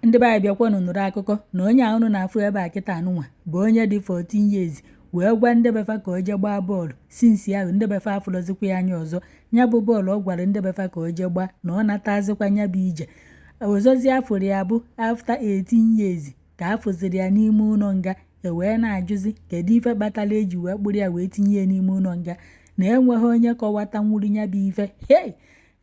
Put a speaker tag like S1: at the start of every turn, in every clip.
S1: ndị be anyị bịakwanụ nụrụ akụkọ na onye a unu na-afụ ebe a kịta anụnwa bụ onye dị 14 years wee gwa ndị befa ka o jee gbaa bọọlụ since ahụ ndị befa afụlọzikwa ya anya ọzọ ya bụ bọọlụ ọ gwara ndị befa ka o jee gbaa na ọ natazikwa ya bụ ije ọzọzi a fụrụ ya bụ after 18 years ka a fụziri ya n'ime ụlọ nga e wee na-ajụzi kedu ife kpatara e ji wee kpụrụ ya wee tinye ya n'ime ụlọ nga na enweghị onye kọwatanwuru ya bụ ife hei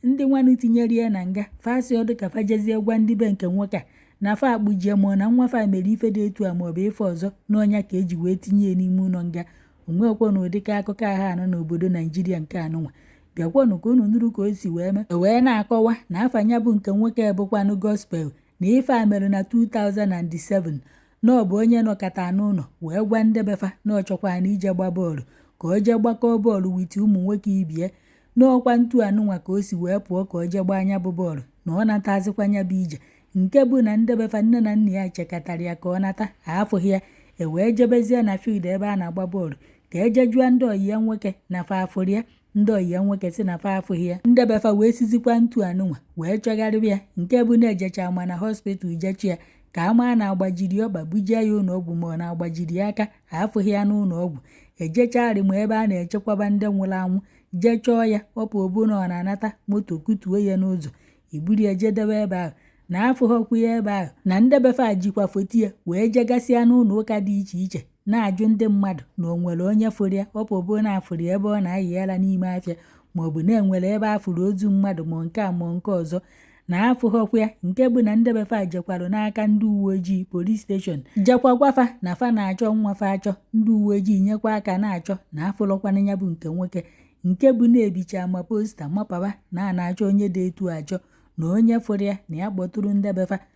S1: ndị nwanụ tinyere ya na nga fa asịrọdụ ka fa jezie gwa ndị be nke nwoke a na fa akpụjie ma ọ na nwa fa mere ife dị etu a maọbụ ife ọzọ na ọ nya ka e ji wee tinye ya n'ime ụlọ nga o nwekwọ na ụdịka akụkọ ahụ anụ n'obodo naijiria nke anụnwa bịakwanụ ka unu nụrụ ka o si wee mee e wee na-akọwa na afa nya bụ nke nwoke bụkwanụ gospel na ife a mere na 2007 na ọ bụ onye nọkọta n'ụlọ wee gwa ndebefa na ọ chọkwara na ije gba bọọlụ ka o jee gbakọọ bọọlụ with ụmụ nwoke ibe ya na ọ kwa ntu anụnwa ka o si wee pụọ ka ọ jee gbaa nya bụ bọọlụ na ọ natazikwa nya bụ ije nke bụ na ndebefa nne na nna ya chekatara ya ka ọ nata afụghị ya e wee jebezie na field ebe a na-agba bọọlụ ka e jee jụọ ndị ọyị ya nwoke na fa afụrụ ya ndị ọyị ya nwoke si na fa afụghị ya ndebefa wee sizikwa ntu anụnwa wee chọgharịwa ya nke bụ na e jecha ma na hospital ije chọ ya ka a maa na a gbajiri ọkpa bujee ya ụlọ ọgwụ ma ọ na a gbajiri ya aka afụghị ya n'ụlọ ọgwụ ejechagharị ma ebe a na-echekwaba ndị nwụrụ anwụ jee chọọ ya ọ pụbụ na ọ na-anata moto kutuo ya n'ụzọ e buru ya jee debe ebe ahụ na afụghọkwu ya ebe ahụ na ndebefa jikwa foto ya wee jegasịa n'ụlọ ụka dị iche iche na-ajụ ndị mmadụ na o nwere onye fụrụ ya ọ pụbụ na a fụrụ ya ebe ọ na-ayị ara n'ime afịa ma ọ bụ na e nwere ebe a fụrụ ozu mmadụ ma nke a ma nke ọzọ na afụghọkwa ya nke bụ na ndebefa jekwara n'aka ndị uwe ojii police station jekwa gwa fa na fa na-achọ nwa fa achọ ndị uwe ojii nyekwa aka na-achọ na afụrọkwana ya bụ nke nwoke nke bụ na e bicha ma poster mapaba na a na-achọ onye dị etu a achọ na onye fụrụ ya na ya kpọtụrụ ndebefa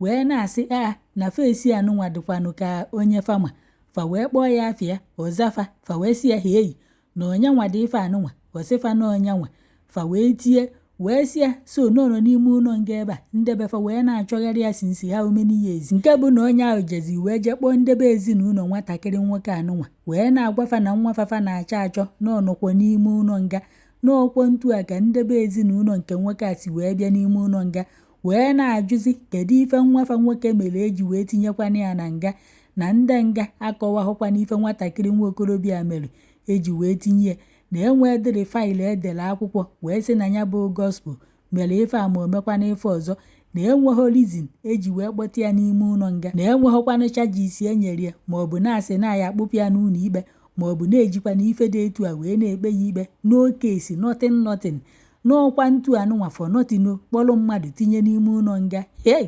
S1: wee na-asị ya na face anụnwa dịkwanụ ka onye fa ma fa wee kpọọ ya afa ya ọ za fa fa wee sị ya ha eyi na onyanwa dị ife anụnwa ọ sị fa na ọ nyanwa fa wee tie wee sị ya so na ọ nọ n'ime ụlọ nga ebe a ndebe fa wee na-achọgharị ya since how many years nke bụ na onye ahụ jezi wee jee kpọọ ndebe ezinụlọ nwatakịrị nwoke anụnwa wee na-agwa fa na nwa fa fa na-achọ achọ na ọ nọkwa n'ime ụlọ nga na ọ kwa ntu a ka ndebe ezinụlọ nke nwoke a si wee bịa n'ime ụlọ nga wee na-ajụzi kedu ife nwa fa nwoke mere e ji wee tinyekwana ya na nga na ndị nga akọwahụkwana ife nwatakịrị nwa okorobịa mere e ji wee tinye ya na enweedịrị file e dere akwụkwọ wee sị na ya bụ gospel mere ife a ma o mekwana ife ọzọ na enweghị reason e ji wee kpọta ya n'ime ụlọ nga na enweghịkwanụ charges e nyere ya ma ọ bụ na a sị na a ya-akpụpụ ya n'ụlọ ikpe ma ọ bụ na e jikwana ife dị etu a wee na-ekpe ya ikpe no case nothing nothing n'ọkwa ntu anụnwa for nothing o kpọrọ mmadụ tinye n'ime ụlọ nga hey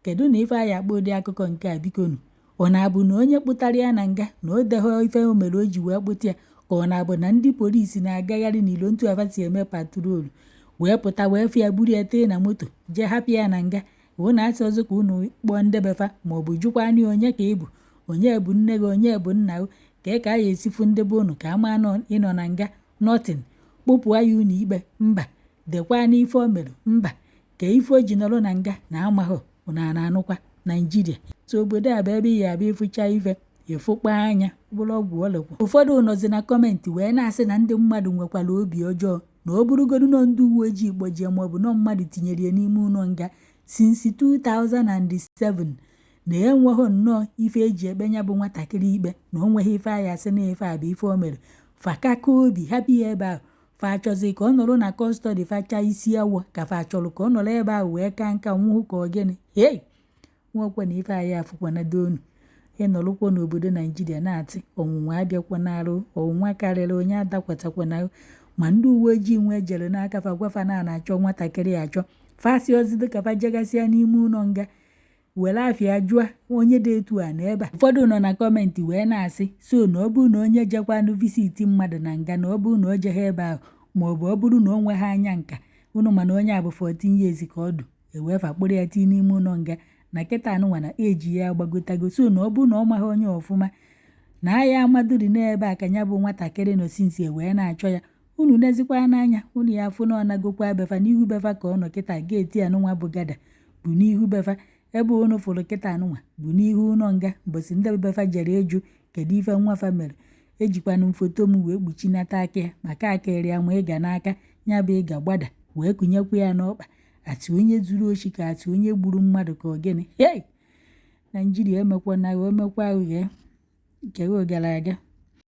S1: kedu na ife anyị akpọ ụdị akụkọ nke a bikonu ọ na-abụ na onye kpụtara ya na nga na o deghọ ife o mere o ji wee kpụta ya ka ọ na-abụ na ndị polisi na-agagharị n'ilo ntu a fa si eme patrol wee pụta wee fụ ya buru ya tii na moto jee hapụ ya na nga unu asịghọzị ka unu kpọọ ndị befa ma ọ bụ jụkwa anyị onye ka ị bụ onye bụ nne gị onye bụ nna gị ka ka a ya esi fụ ndị be unu ka a maa na ị nọ na nga nothing kpụpụ yanụ ikpe mba dekwanụ ife o mere mba ka ife o ji nọrọ na nga na amaghị unu ana-anụkwa naijiria so obodo a bụ ebe ị ya abịa ị fụcha ife ị fụkpọ anya bụrụ ọgwụ ọlekwa ụfọdụ nọzi na comment wee na-asị na ndị mmadụ nwekwara obi ọjọọ na ọ bụrụgodu na ọ ndị uwe ojii kpọjie maọbụ na ọ mmadụ tinyere ya n'ime ụlọ nga since 2007 na enweghị nnọọ ife e ji ekpe ya bụ nwatakịrị ikpe na o nweghị ife a ya asị na ife a bụ ife o mere fa kaka obi hapụ ya ebe ahụ fa achọzi ka ọ nọrọ na custody fa chaa isi awọ ka fa achọrọ ka ọ nọrọ ebe ahụ wee kaa nka nwụọ ka ọ gịnị hei nwekwa na ife anyị afụkwana donu ị nọrọkwa n'obodo naijiria na-atị ọnwụnwa abịakwana arụ ọnwụnwa karịrị onye adakwatakwana ma ndị uwe ojii nwa e jere n'aka fa gwa fa na a na-achọ nwatakịrị achọ fa asịghọzị ka fa jegasịa n'ime ụlọ nga were afa ya jụọ onye dị etu a n'ebe a ụfọdụ nọ na comment wee na-asị so na ọ bụrụ na onye jekwanụ visit mmadụ na nga na ọ bụrụ na o jeghị ebe ahụ ma ọ bụ ọ bụrụ na o nweghị anya nka unu ma na onye a bụ 14 years ka ọ dụ oge fa kpụrụ ya tii n'ime ụlọ nga na kịta anụnwa na age ya agbagotago so na ọ bụrụ na ọ maghị onye ọfụma na a ya amaduri n'ebe a ka ya bụ nwatakịrị nọ since e wee na-achọ ya unu nezikwa ya n'anya unu ya afụ na ọ nagokwa befa n'ihu befa ka ọ nọ kịta gate anụnwa bụ gada bụ n'ihu befa ebe unu fụrụ kịta anụnwa bụ n'ihu ụlọ nga mbọsị ndị befa jere ịjụ kedu ife nwa fa mere ejikwana m foto m wee kpuchinata aka ya maka a kụrụ ya ma ịga n'aka ya bụ ịga gbada wee kụnyekwa ya n'ọkpa atị onye zuru ochi ka atị onye gburu mmadụ ka ọ gịnị hei naijiria emekwana emekwa aghụghọ kewe gara aga